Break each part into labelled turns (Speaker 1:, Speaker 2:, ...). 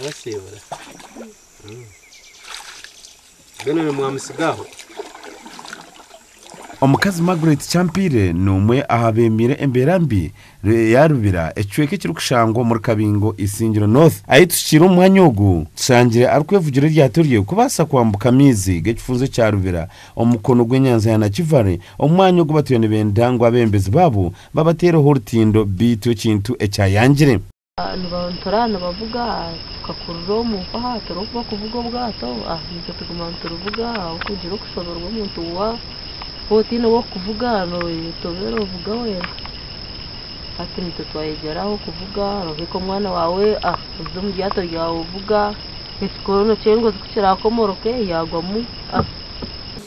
Speaker 1: Mwasiibura? Mbwenu ni mwamutsigaho? Omukazi Margaret Kyampire n'omwe aha beemire embeera mbi ya Rubira, ekicweka ekirikushangwa omuri Kabingo Isingiro North. Ahi tuhikiire omu mwanya ogu, tushangire arikwevugira eryato rye kubaasa kwambuka amaizi g'ekifunzo kya Rubira omu mukono gw'enyanja ya Nakivale, omwanya ogu batwire nibenda ngu abeebembezi baabo Babateereho orutindo beitu ekintu ekyayangire. Nibantura nibavuga tukakurura omu nkoha turi oku bakuvuga obwato itwe tuguma niturivuga ahabw'okugira okushoberwa omuntu wa waaba otaine ow'okukuvuga netobeera ovuga wenka hati nitwe twayegyera aho kuvuga noheka omwana waawe oze omu ryato ryawe ovuga ekikondo kyengozi ku kirakomoroke yagwamu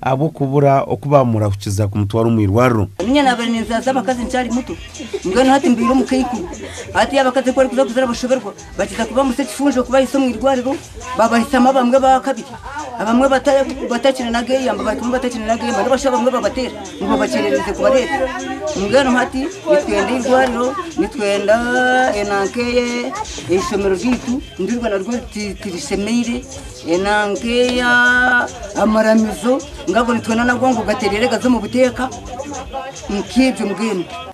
Speaker 1: ahabw'okubura oku baamurahukiza kumutwara omu irwariro. Niinye naabaire ninzaasa abakazi nkyali muto, mbwenu hati mbaire omukaikuru. Hati abakazi ku barikuza kuzara bashoberwa, bakiza kubamutsya ekifunjo okubahitsya omu irwariro, babahitsyamu abamwe baakabiri, abamwe batakiri n'ageeyamba, bahikamu batakiri n'ageeyamba, nibashusha abamwe babateera ngu babakyerereize kubareeta. Mbwenu hati nitwenda eirwariro, nitwenda enanka eishomero ryaitu ndirwe naryo tirishemeire.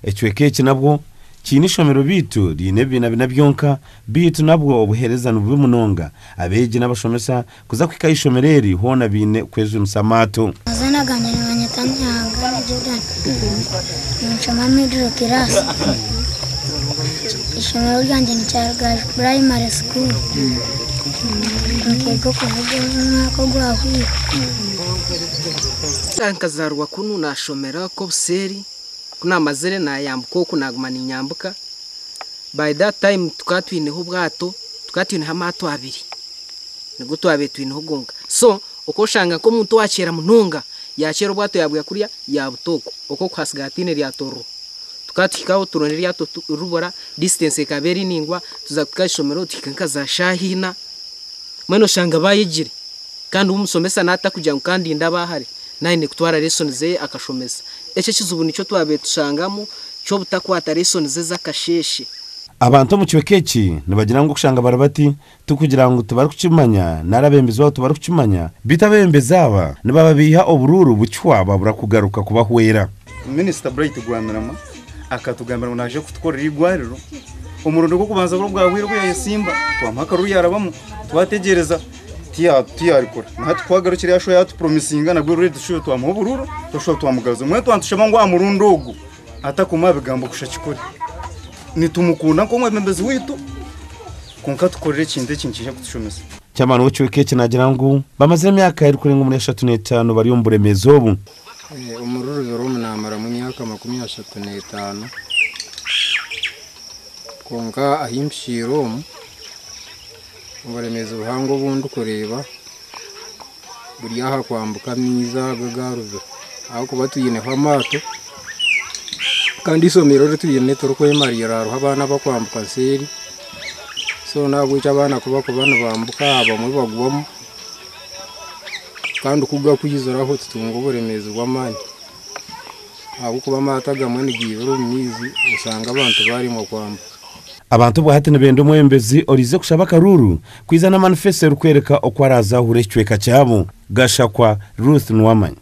Speaker 1: Ekicweka eki nabwo kiine eishomero beitu riine ebibiina bina byonka, beitu nabwo obuheereza nibubi munonga. Abeegi n'abashomesa kuza kuhika aha ishomero eri hoona baine kwejunisa amaato. Ninshoma Middle class. Eishomero ryangye ni Kyarugaju Primary School. Ninkega okuvuga omwaka ogwahwire. Nkazaarwa kunu naashomera oku obuseeri, ku naamazire naayambuka oku naaguma niinyambuka. By that time tukaba twineho obwato, tukaba twineho amaato abiri, nigo twabaire twineho gonka. So Okooshanga nk'omuntu owaakyeera munonga yaakyeera obwato yaabuya kuriya yaabuta oku, oku okuhasiga hataine ryato ririho. Tukaba tuhikaho turonda eryato turibura, distance ekaba eri naingwa, tuza kuhika aha ishomero tuhika nka za shaaha ina, mbwenu oshanga baayegire kandi omushomesa naaba atakugira ngu ka ndinde aba hare, naaba aine kutwara lesson ze akashomesa. Ekyo ekizibu nikyo twabaire tushangamu ky'obutakwata lesson ze z'akasheeshe. Abantu omu kicweka eki nibagira ngu okushanga bari bati Ti kugira ngu tibarikukimanya nari abeembezi baabo tibarikukimanya, beitu abeebembezi aba nibaba baiha oburuuru bukihwa babura kugaruka kubahwera. Minisita Bright Rwamirama akatugambira ngu naaza kutukorera eirwariro. Omurundi gw'okubanza buri bwahwaire obu yaayesimba twamuha akaruru yaarabamu, twategyereza tiyaarikora. Nahati ku agarukire yaashuha yaatupuromisinga nabwo eirwariro tushuhe twamuha oburuuru twashuha twamugaruza. Mbwenu twatushaba ngu aha murundi ogu atakomaho bigambo kusha kikore. Nitumukunda nk'omwebembezi waitu. Kwonka tukorere ekintu eki nikiija kutushomesa. Chairman w'ekicweka eki naagira ngu bamazire emyaka erikurenga omuri ashatu n'etaano bari omu buremeezi obu. Omuri Rubero omu naamaramu emyaka makumi ashatu n'etaano, kwonka ahi mpikiire omu, oburemeezi buhango obu ndikureeba, buri aha kwambuka amaizi aga agaruga ahakuba twineho amaato kandi eishomero eri twine tirikwemariira hariho abaana abakwambuka seeri so n'ahabw'ekyo abaana ku barikuba nibambuka abamwe bagwamu kandi ku gakwiziraho tutunga oburemeezi bw'amaani ahabw'okuba amaato agamwe nigaibira omu maizi oshanga abantu baaremwa kwambuka. Abantu obwa hati nibenda omwebembezi oraize kushaba akaruuru Kwiza na manifesto erikwereka oku araazaahura ekicweka kyabo. Gashakwa Ruth Nuwamanya.